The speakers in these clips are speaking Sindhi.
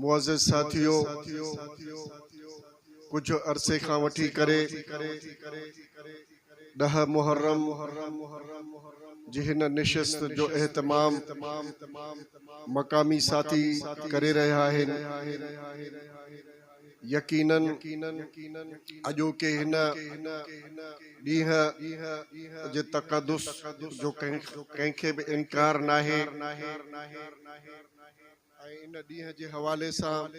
معزز ساٿيو! ڪجهه عرصي کان وٺي ڪري ڏهه محرم جي هن نشست جو اهتمام مقامي ساٿي ڪري رهيا آهن. يقينن اڄوڪي هن ڏينهن جي تقدس جو ڪنهن کي به انڪار ناهي. ۽ ان ڏينهن جي حوالي سان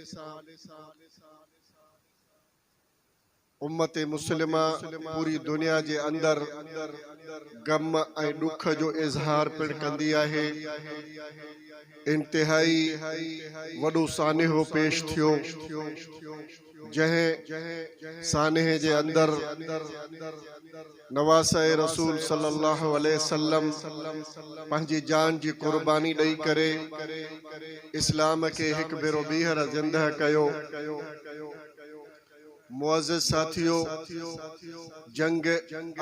امت مسلمه پوري دنيا جي اندر غم ۽ ڏک جو اظهار پڻ ڪندي آهي. انتهائي وڏو سانحو پيش ٿيو. جنهن سانحي جي اندر نواسه رسول صلي الله عليه وسلم پنهنجي جان جي قرباني ڏئي ڪري اسلام کي هڪ ڀيرو ٻيهر زنده ڪيو. معزز ساٿيو! جنگ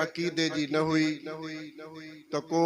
عقيدي جي نه هئي ته ڪو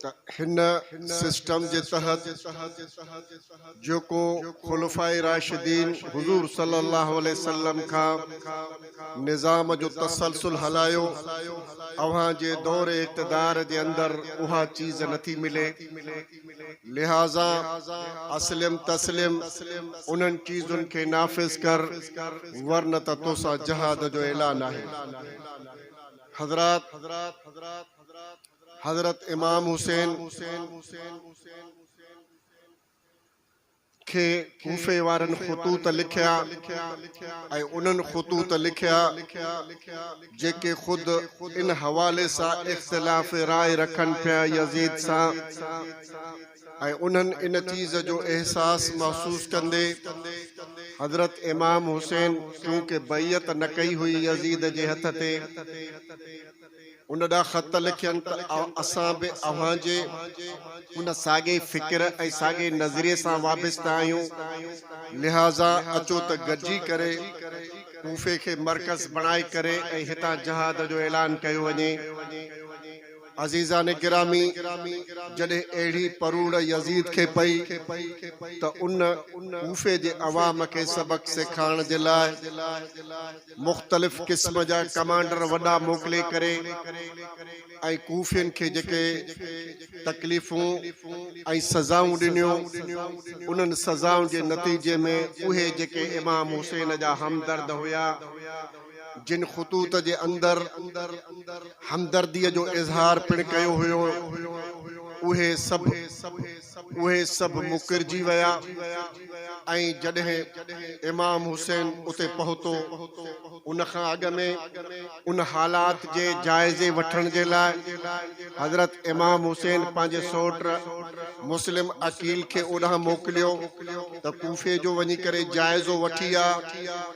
ته هن سسٽم جي تحت جيڪو خلفاء راشدين حضور صلي الله عليه وسلم کان نظام جو تسلسل هلايو اوهان جي دور اقتدار جي اندر اها چيز نٿي ملي لهٰذا اسلم تسلم انهن چيزن کي نافذ ڪر ورنه ته توسان جهاد جو اعلان آهي حضرات حضرت امام حسين کي ڪوفي وارن خطوط لکيا ۽ انهن خطوط لکيا جيڪي خود ان حوالي سان اختلاف راء رکن پيا يزيد سان ۽ انهن ان چيز جو احساس محسوس ڪندي حضرت امام حسين چونڪه بيعت نه ڪئي هئي يزيد جي هٿ تي ان ڏانهن خط لکين ته اسان به اوهان جي ان ساڳئي فڪر ۽ ساڳئي نظريي سان وابسته آهيون، لهٰذا اچو ته گڏجي ڪري ڪوفي کي مرڪز بڻائي ڪري ۽ هتان جهاد جو اعلان ڪيو وڃي. عزيزان گرامي! جڏهن اهڙي پروڙ يزيد کي پئي ته ان ڪوفي جي عوام کي سبق سيکارڻ جي لاء، مختلف قسم جا ڪمانڊر وڏا موڪلي ڪري ۽ ڪوفين کي جيڪي تڪليفون ۽ سزائون ڏنيون، انهن سزائن جي نتيجي ۾ اهي جيڪي امام حسين جا همدرد هيا، جن خطوط جي اندر همدرديء جو اظهار پڻ ڪيو هيو، اهي سڀ. اهي سڀ مڪرجي ويا ۽ جڏهن امام حسين اتي پهتو، ان کان اڳ ۾ ان حالات جي جائزي وٺڻ جي لاء حضرت امام حسين پنهنجي سؤٽ مسلم عقيل کي اوڏانهن موڪليو ته ڪوفي جو وڃي ڪري جائزو وٺي آ.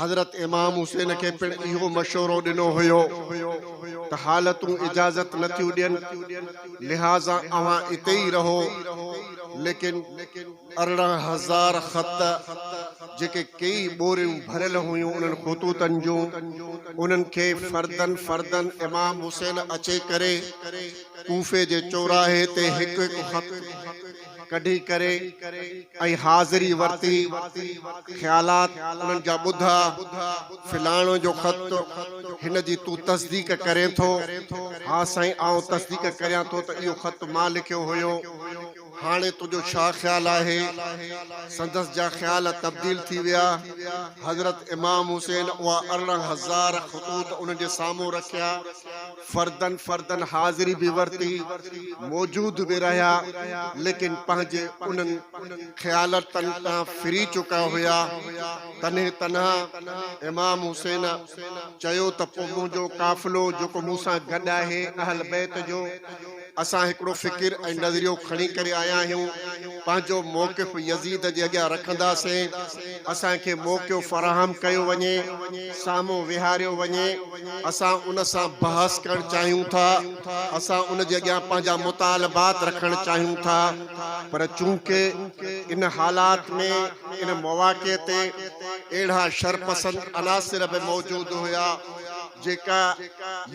حضرت امام حسين کي پڻ اهو مشورو ڏنو هيو ته حالتون اجازت نه ٿيون ڏين، لهٰذا اوهان اتي ئي رهو. ليڪن ارڙهن هزار خط، جيڪي ڪيئي ٻوريون ڀريل هيون انهن خطوطن جون، انهن کي فردن فردن امام حسين اچي ڪري، ڪوفي جي چوراهي تي هڪ هڪ خط، ڪڍي ڪري ۽ حاضري ورتي. خيالات انهن جا ٻڌا، فلاڻو جو خط هن جي تون تصديق ڪرين ٿو؟ ها سائين آئون تصديق ڪريان ٿو ته اهو خط مان لکيو هيو. هاڻي تنهنجو ڇا خيال آهي؟ سندس جا خيال تبديل ٿي ويا. حضرت امام حسين اها ارڙهن هزار خطوط انهن جي سامهون رکيا. فردن فردن حاضري به ورتي، موجود به رهيا، ليڪن پنهنجي انهن خيالتن تان ڦري چڪا هيا. تنهن تنها امام حسين چيو ته پوء منهنجو قافلو جيڪو مون سان گڏ آهي، اهل بيت جو، اسان هڪڙو فڪر ۽ نظريو کڻي ڪري آيا آهيون، پنهنجو موقف يزيد جي اڳيان رکنداسين، اسان کي موقعو فراهم ڪيو وڃي، سامهون ويهاريو وڃي، اسان ان سان بحث ڪرڻ چاهيون ٿا، اسان ان جي اڳيان پنهنجا مطالبات رکڻ چاهيون ٿا، پر چونڪه ان حالات ۾ ان مواقعي تي اهڙا شرپسند عناصر به موجود هيا، جيڪا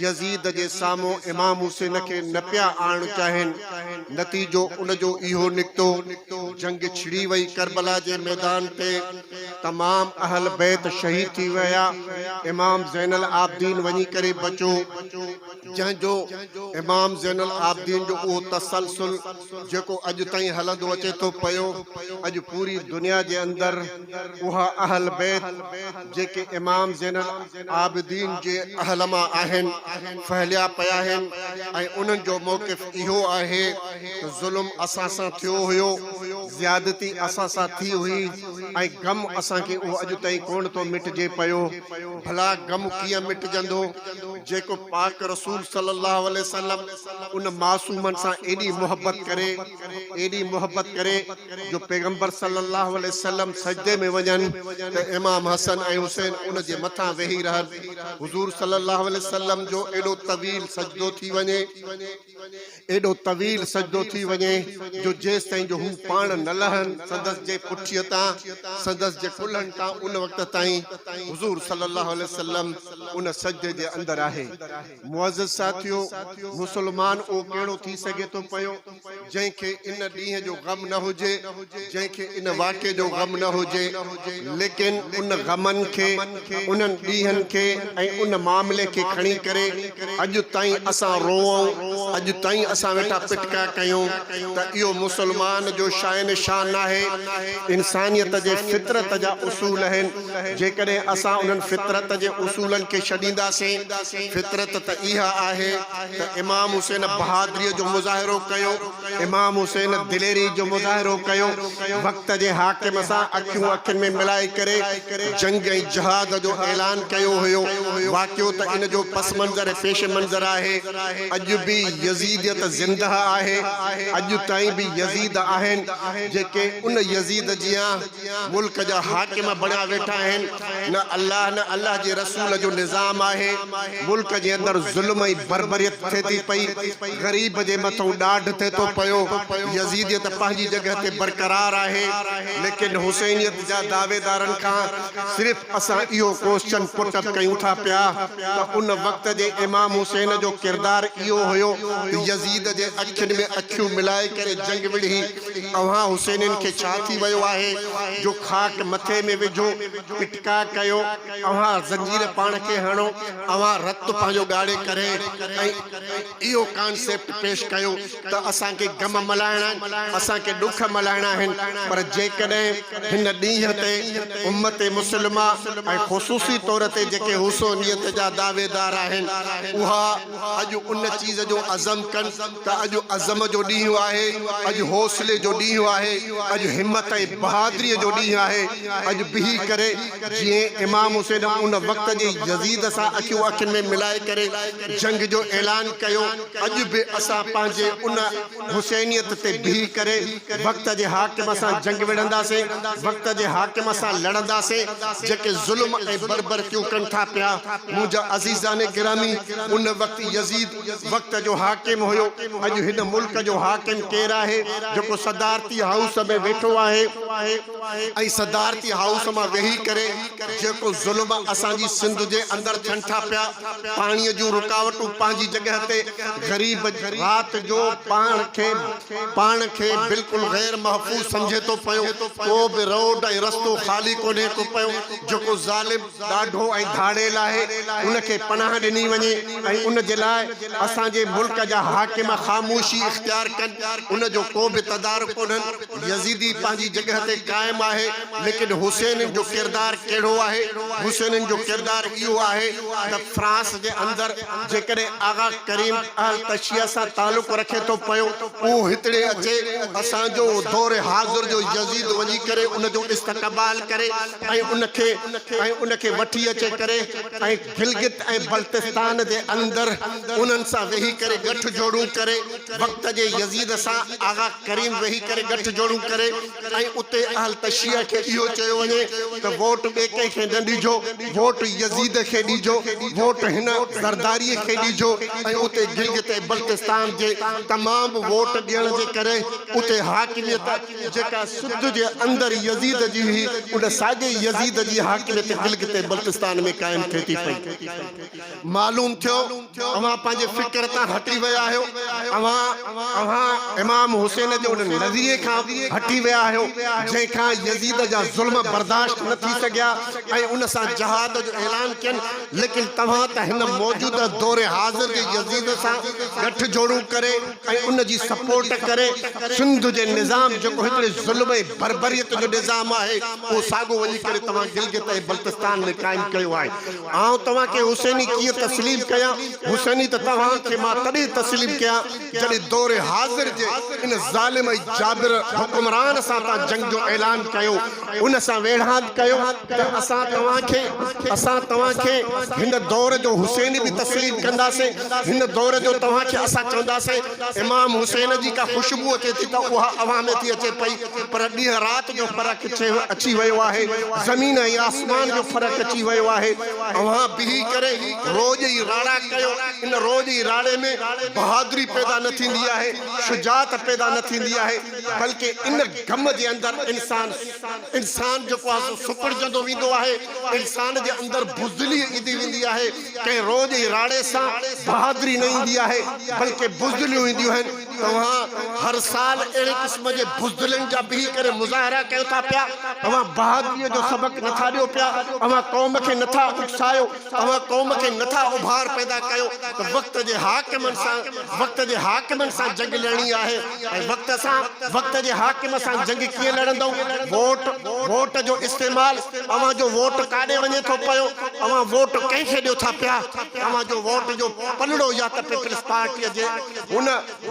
يزيد جي سامهون امام حسين کي نه پيا آڻڻ چاهين، نتيجو ان جو اهو نڪتو، جنگ ڇڙي وئي، ڪربلا جي ميدان تي تمام اهل بيت شهيد ٿي ويا، امام زين العابدين وڃي ڪري بچو، جنهن جو امام زين العابدين جو اهو تسلسل. جيڪو اڄ تائين هلندو اچي ٿو پيو، اڄ پوري دنيا جي اندر اها اهل بيت جيڪي امام زين العابدين جي اهل مان آهن ڦهليا پيا آهن ۽ انهن جو موقف اهو آهي ته ظلم اسان سان ٿيو هيو، زيادتي اسان سان ٿي هئي ۽ غم اسان کي اهو اڄ تائين ڪونه ٿو مٽجي پيو، ڀلا غم ڪيئن مٽجندو جيڪو پاڪ رسول صلي الله عليه وسلم. ان معصومن سان ايڏي محبت ڪري، ايڏي محبت ڪري جو پيغمبر صلّي اللّٰه عليه وسلّم سجدي ۾ وڃن ته امام حسن ۽ حسين ان جي مٿان ويهي رهن. حضور صلّي اللّٰه عليه وسلّم جو ايڏو طويل سجدو ٿي وڃي، ايڏو طويل سجدو ٿي وڃي جو جيستائين جو هو پاڻ نه لهن سندس جي پٺيء تان، سندس جي ڪلهن تان ان وقت تائين حضور صلّي اللّٰه عليه وسلّم ان سجدي جي اندر آهي. معزز ساٿيو! مسلمان اهو ڪهڙو ٿي سگهي ٿو پيو، جنهن کي ان ڏينهن جو غم نه هجي، جنهن کي ان واقعي جو غم نه هجي، ليڪن ان غمن کي، انهن ڏينهن کي ۽ ان معاملي کي کڻي ڪري اڄ تائين اسان روئون، اڄ تائين اسان ويٺا پٽڪا ڪيون ته اهو مسلمان جو شاين شان ناهي، انسانيت جي فطرت جا اصول آهن. جيڪڏهن اسان انهن فطرت جي اصولن کي ڇڏينداسين، فطرت ته اها آهي ته امام حسين بهادريء جو مظاهرو ڪيو، امام حسين دليري جو مظاهرو ڪيو، وقت جي حاڪم سان اکيون اکين ۾ ملائي ڪري جنگ ۽ جهاد جو اعلان ڪيو هيو، واقعو ته ان جو پس منظر ۽ پيش منظر آهي. اڄ به يزيديت زنده آهي، اڄ تائين به يزيد آهن، جيڪي ان يزيد جيان ملڪ جا حاڪم بڻيا ويٺا آهن نه الله نه الله جي رسول جو نظام آهي ملڪ جي اندر ظلم ۽ بربريت ٿئي ٿي پئي غريب جي مٿئون ڏاڍ ٿئي ٿو پيو يزيديت پنهنجي جڳهه تي برقرار آهي ليڪن حسينيت جا دعويدارن کان صرف اسان اهو ڪوسچن پٽ اپ ڪيون ٿا پيا ته ان وقت جي امام حسين جو ڪردار اهو هيو ته يزيد جي اکين ۾ اکيون ملائي ڪري جنگ وڙهي اوهان حسينين کي ڇا ٿي ويو آهي جو کاٽ مٿي ۾ وجهو، اٽڪا ڪيو، اوهان زنجير پاڻ کي هڻو، اوهان رت پنهنجو ڳاڙهي ڪري ۽ اهو ڪانسيپٽ پيش ڪيو ته اسان کي غم ملهائڻا آهن، اسان کي ڏک ملهائڻا آهن، پر جيڪڏهن هن ڏينهن تي امت مسلمه ۽ خصوصي طور تي جيڪي حسينيت جا دعويدار آهن اها اڄ ان چيز جو عزم ڪن ته اڄ عزم جو ڏينهن آهي، اڄ حوصلي جو ڏينهن آهي، اڄ همت ۽ بهادريء جو ڏينهن آهي، اڄ بيهي ڪري جيئن امام حسين ان وقت جي يزيد سان اکيون اکين ۾ ملائي ڪري جنگ جو اعلان ڪيو، اڄ به اسان پنهنجي ان حسينيت تي بيهي ڪري وقت جي حاڪم سان جنگ وڙهنداسين، وقت جي حاڪم سان لڙنداسين، جيڪي ظلم ۽ بربرڪيون ڪن ٿا پيا. منهنجا عزيزان گرامي! ان وقت يزيد. وقت جو حاڪم هيو، اڄ هن ملڪ جو حاڪم ڪير آهي جيڪو صدارتي هائوس ۾ ويٺو آهي ۽ صدارتي هائوس مان ويهي ڪري جيڪو ظلم اسان جي سنڌ جي اندر ٿين ٿا پيا، پاڻي جون رڪاوٽون پنهنجي جڳهه تي، غريب رات جو پاڻ کي پاڻ کي بلڪل غير محفوظ سمجهي ٿو پيو، ڪو به روڊ ۽ رستو خالي ڪونهي ڪو پيو جيڪو ظالم. ڏاڍو ۽ ڌاڙيل آهي ان کي پناهه ڏني وڃي ۽ ان جي لاء اسان جي ملڪ جا حاڪم خاموشي اختيار ڪن ان جو ڪو به تدارڪ ڪونهن يزيدي پنهنجي جڳهه تي قائم آهي ليڪن حسينين جو ڪردار ڪهڙو آهي حسينين جو ڪردار اهو آهي ته فرانس جي اندر جيڪڏهن آغا ڪريم اهل تشيع سان تعلق رکي ٿو پيو اهو هتڙي اچي اسان جو دور حاضر جو يزيد وڃي ڪري ان جو استقبال ڪري ان کي ۽ ان کي وٺي اچي ڪري ۽ گلگت ۽ بلتستان جي اندر انهن سان ويهي ڪري ڳٺ جوڙون ڪري وقت جي يزيد سان آغا ڪريم ويهي ڪري ڳٺ جوڙون ڪري ۽ اتي اهل تشيع کي اهو چيو وڃي ته ووٽ ٻئي ڪنهن کي نه ڏجو ووٽ يزيد کي ڏجو ووٽ هن زرداري کي ڏجو ۽ اتي گلگت ۽ بلتستان جي تمام ووٽ ڏيڻ جي ڪري اتي حاڪميت جيڪا سنڌ جي اندر يزيد جي هئي، ان ساڳئي يزيد جي حاڪميت گلگت ۽ بلتستان ۾ قائم ٿئي ٿي پئي. معلوم ٿيو اوهان پنهنجي فڪر تان هٽي ويا آهيو. اوهان اوهان امام حسين جي ان نظريي کان هٽي ويا آهيو، جنهن کان يزيد جا ظلم برداشت نه ٿي سگهيا ۽ ان سان جهاد جو اعلان ڪين، ليڪن توهان ته هن موجوده دور حاضر جي يزيد سان ڳٺجوڙون ڪري، ۽ ان جي سپورٽ ڪري سنڌ جي نظام جيڪو هڪڙي ظلم ۽ بربريت جو نظام آهي اهو ساڳو وڃي ڪري توهان گلگت ۽ بلتستان ۾ قائم ڪيو آهي آئون توهان کي حسيني ڪيئن تسليم ڪيان حسيني ته توهان کي مان تڏهن تسليم ڪيان جڏهن دور حاضر جي ان ظالم ۽ جابر حڪمران سان توهان جنگ جو اعلان ڪيو ۽ ان سان ويڙهاڪ ڪيو ته اسان توهان کي، اسان توهان کي، هن دور جو حسين به تسليم ڪنداسين، هن دور جو توهان کي اسان چونداسين، امام حسين جي ڪا خوشبو اچي ٿي ته اها اوهان ۾ ٿي اچي پئي، پر ڏينهن رات جو فرق اچي ويو آهي، زمين ۽ آسمان جو فرق اچي ويو آهي، اوهان بيهي ڪري روء جي راڙا ڪيو، ان روء جي راڙي ۾ بهادري پيدا نه ٿيندي آهي، شجاعت پيدا نه ٿيندي آهي. بلڪه ان گم جي اندر انسان انسان جيڪو آهي سو سڪڙجندو ويندو آهي، انسان جي اندر بزدلي ايندي ويندي آهي، ڪنهن روڄ جي راڙي سان بهادري نه ايندي آهي بلڪه بزدليون اينديون آهن، توهان هر سال اهڙي قسم جي بزدلين جا بيهي ڪري مظاهرا ڪيو ٿا پيا، اوهان بهادري جو سبق نٿا ڏيو پيا، اوهان قوم کي نٿا اڪسايو. اوهان قوم کي نه ٿا اڀار پيدا ڪيو ته وقت جي حاڪمن سان وقت جي حاڪمن سان جنگ لڙڻي آهي ۽ وقت سان وقت جي حاڪم سان جنگ ڪيئن لڙندؤ ووٽ ووٽ جو استعمال اوهان جو ووٽ ڪاڏي وڃي ٿو پيو اوهان ووٽ ڪنهن کي ڏيو ٿا پيا اوهان جو ووٽ جو پلڙو يا ته پيپلز پارٽي جي هن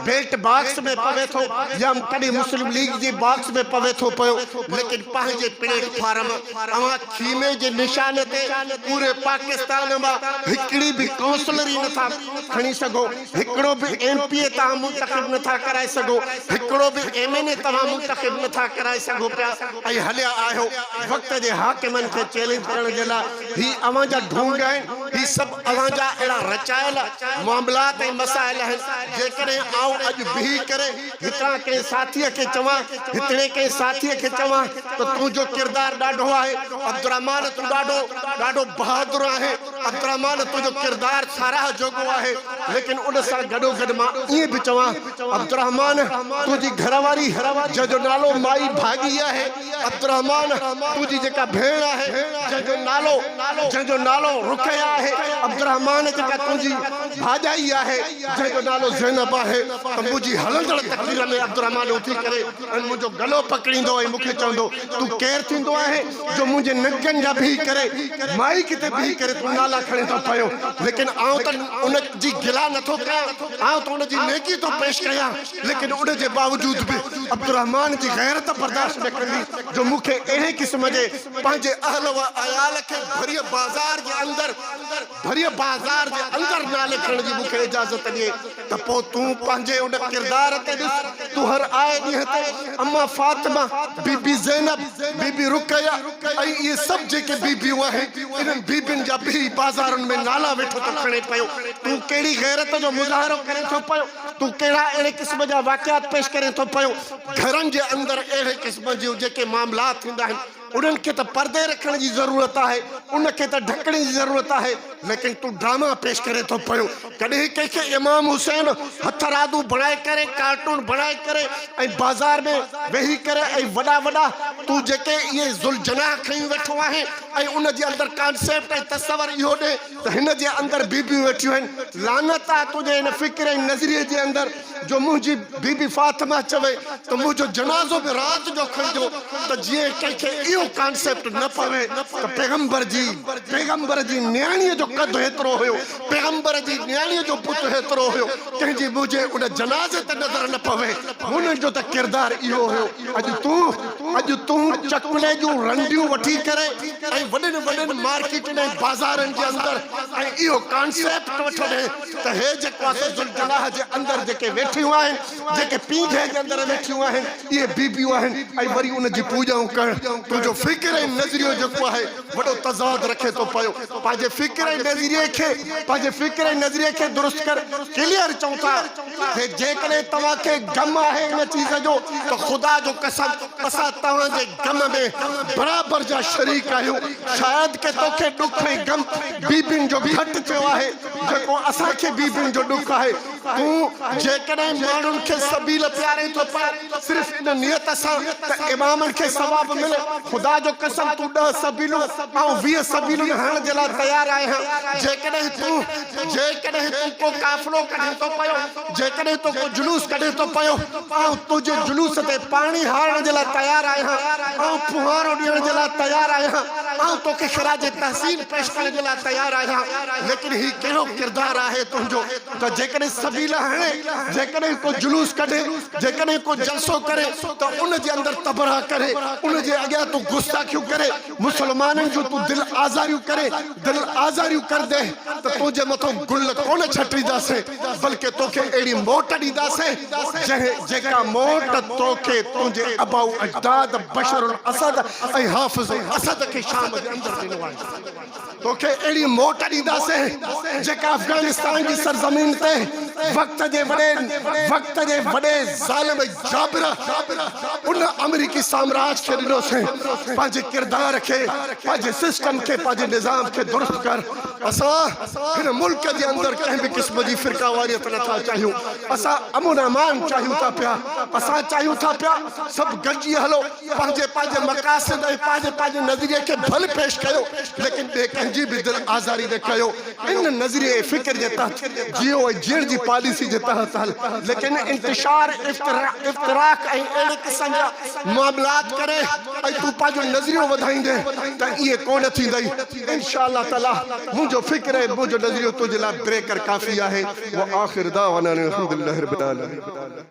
بيلٽ باڪس ۾ پوي ٿو يا ڪڏهن مسلم ليگ جي باڪس ۾ پوي ٿو پيو ليڪن پنهنجي پليٽ فارم اوهان خيمي جي نشاني تي پوري پاڪستان مان هڪڙي به ڪائونسلر ئي نٿا کڻي سگهو هڪڙو به ايم پي اي توهان منتخب نٿا ڪرائي سگهو هڪڙو به ايم اين اي توهان منتخب نٿا ڪرائي سگهو پيا ۽ هليا آهيو وقت جي حاڪمن کي چئلينج ڪرڻ جي لاء هي اوهان جا ڍونگ آهن، هي سڀ اوهان جا اهڙا رچايل معاملات ۽ مسائل آهن، جيڪڏهن آئون اڄ بيهي ڪري هتان ڪنهن ساٿيء کي چوان، هتڙي ڪنهن ساٿيء کي چوان ته تنهنجو ڪردار ڏاڍو آهي، عبدالرحمان تون ڏاڍو ڏاڍو بهادر آهين، عبدالرحمان تنهنجو ڪردار ساراهه جوڳو آهي، ليڪن ان سان گڏوگڏ مان ائين به چوان، عبدالرحمان تنهنجي گهرواري جنهن جو نالو مائي ڀاڳي آهي، عبدالرحمان تنهنجي جيڪا ڀيڻ آهي جنهن جو نالو جنهن جو نالو رقيه آهي عبدالرحمان جيڪا تنهنجي ڀاڄائي آهي جنهن جو نالو زينب آهي ته منهنجي هلندڙ تقرير ۾ عبدالرحمان اٿي ڪري ۽ منهنجو گلو پڪڙيندو ۽ مونکي چوندو تون ڪير ٿيندو آهين جو منهنجي ننگن جا بيهي ڪري مائيڪ تي بيهي ڪري تون نالا کڻيندو پيو ليڪن آئون ته ان جي گلا نٿو ڪيان آئون ته ان جي نيڪي ٿو پيش ڪيان. ليڪن ان جي باوجود به عبدالرحمان جي غيرت برداشت نه ڪندي جو مون کي اهڙي قسم جي پنهنجي اهل و عيال کي ڀريء بازار جي اندر ڀريء بازار جي اندر نالي کڻڻ جي مون کي اجازت ڏئي ته پوء تون پنهنجي ان ڪردار تي ڏس تون هر آئي ڏينهن تي اما فاطمه بي بي زينب بي بي رقيه ۽ اهي سڀ جيڪي بي بيون آهن انهن بي بين جا ڀريء بازارن ۾ نالا ويٺو ٿو کڻي پيو تون ڪهڙي غيرت جو مظاهرو ڪرين ٿو پيو تون ڪهڙا اهڙي قسم جا واقعات پيش ڪرين ٿو پيو؟ گهرن جي اندر اهڙي قسم جون جيڪي معاملات ٿيندا آهن، انهن کي ته پردي رکڻ جي ضرورت آهي، ان کي ته ڍڪڻ جي ضرورت آهي، ليڪن تون ڊراما پيش ڪرين ٿو پيو. ڪڏهن ڪنهن کي امام حسين هٿرادو بڻائي ڪري، ڪارٽون بڻائي ڪري ۽ بازار ۾ ويهي ڪري ۽ وڏا وڏا تون جيڪي اهي ذوالجناح کڻي ويٺو آهين ۽ ان جي اندر ڪانسيپٽ ۽ تصور اهو ڏي، ته هن جي اندر بيبيون ويٺيون آهن، لعنت آهي تنهنجي ان فڪر ۽ نظريي جي اندر جو منهنجي بيبي فاطمه چوي ته منهنجو جنازو به رات جو کڻجو ته جيئن ڪنهن کي اهو ڪانسيپٽ نه پوي ته پيغمبر جي پيغمبر جي نياڻيء جو قد هيترو هيو، پيغمبر جي نياڻيء جو بت هيترو هيو، تنهنجي منهنجي ان جنازي تي نظر نه پوي، هنن جو ته ڪردار اهو هيو. اڄ تون اڄ تون چڪلي جون رنڊيون وٺي ڪري ۽ وڏين وڏين مارڪيٽن ۽ بازارن جي اندر ۽ اهو ڪانسيپٽ وٺندي ته هي جيڪو آٿو ذوالجناح جي اندر جيڪي ويٺيون آهن جيڪي پينگهي جي اندر ويٺيون آهن اهي بيبيون آهن ۽ وري ان جي پوڄائون ڪرڻ تنهنجو فڪر ۽ نظريو جيڪو آهي وڏو تضاد رکي ٿو پيو پنهنجي فڪر ۽ نظريي کي پنهنجي فڪر ۽ نظريي کي درست ڪر Clear چئون ٿا ۽ جيڪڏهن توهان کي غم آهي ان چيز جو ته خدا جو قسم اسان توهان جي غم ۾ برابر جا شريڪ آهيون شايد ڪي توکي ڏک ۽ غم بيبين جو گهٽ ٿيو آهي جيڪو اسان کي بيبين جو ڏک آهي تون جيڪڏهن ماڻهن کي سبيل پيارين ٿو پر صرف ان نيت سان ته امامن کي ثواب ملي، خدا جو قسم تون ڏهه سبيلون آئون ويهه سبيلون هڻڻ جي لاء تيار آهيان، جيڪڏهن تون جيڪڏهن تون ڪو قافلو ڪڍين ٿو پيو، جيڪڏهن تون ڪو جلوس ڪڍين ٿو پيو، آئون تنهنجي جلوس تي پاڻي هارڻ جي لاء تيار آهيان، آئون ڦوهارو ڏيڻ جي لاء تيار آهيان، آئون توکي خراج تحسين پيش ڪرڻ جي لاء تيار آهيان، ليڪن هي ڪهڙو ڪردار آهي تنهنجو؟ ته جيڪڏهن سبيل هڻي، جيڪڏهن ڪو جلوس ڪڍي، جيڪڏهن ڪو جلسو ڪري ته ان جي اندر تبرها ڪري، ان جي اڳيان تون گستاخيون ڪري، مسلمانن جون تون دل آزاريون ڪري، دل آزاريون ڪندين ته تنهنجي مٿان گل ڪونه ڇٽينداسين، بلڪه توکي اهڙي موٽ ڏينداسين، جنهن جيڪا موٽ توکي تنهنجي ابائو اجداد بشر الاسد ۽ حافظ الاسد کي شام جي اندر ڏنو آهي. توکي اهڙي موٽ ڏينداسين جيڪا افغانستان جي سرزمين تي وقت جي وڏي وقت جي وڏي ظالم جابر ان آمريڪي سامراج کي ڏنوسين پنهنجي ڪردار کي پنهنجي سسٽم کي پنهنجي نظام کي درست ڪر اسان هن ملڪ جي اندر ڪنهن به قسم جي فرقه واريت نه ٿا چاهيون اسان امن امان چاهيون ٿا پيا اسان چاهيون ٿا پيا سڀ گڏجي هلو پنهنجي پنهنجي مقاصد ۽ پنهنجي پنهنجي نظريي کي ڀل پيش ڪيو ليڪن ٻئي ڪنهن جي به دل آزاري نه ڪيو ان نظريي ۽ فڪر جي تحت جيئو ۽ جيئڻ جي پاليسي جي تحت هل ليڪن انتشار افتراق ۽ اهڙي قسم جا معاملات ڪري ۽ تون پنهنجو نظريو وڌائيندين ته ايئن ڪونه ٿيندئي انشاء الله تعالي منهنجو فڪر ۽ منهنجو نظريو تنهنجي لاء بريڪر ڪافي آهي واخر دعوانا ان الحمد لله رب العالمين.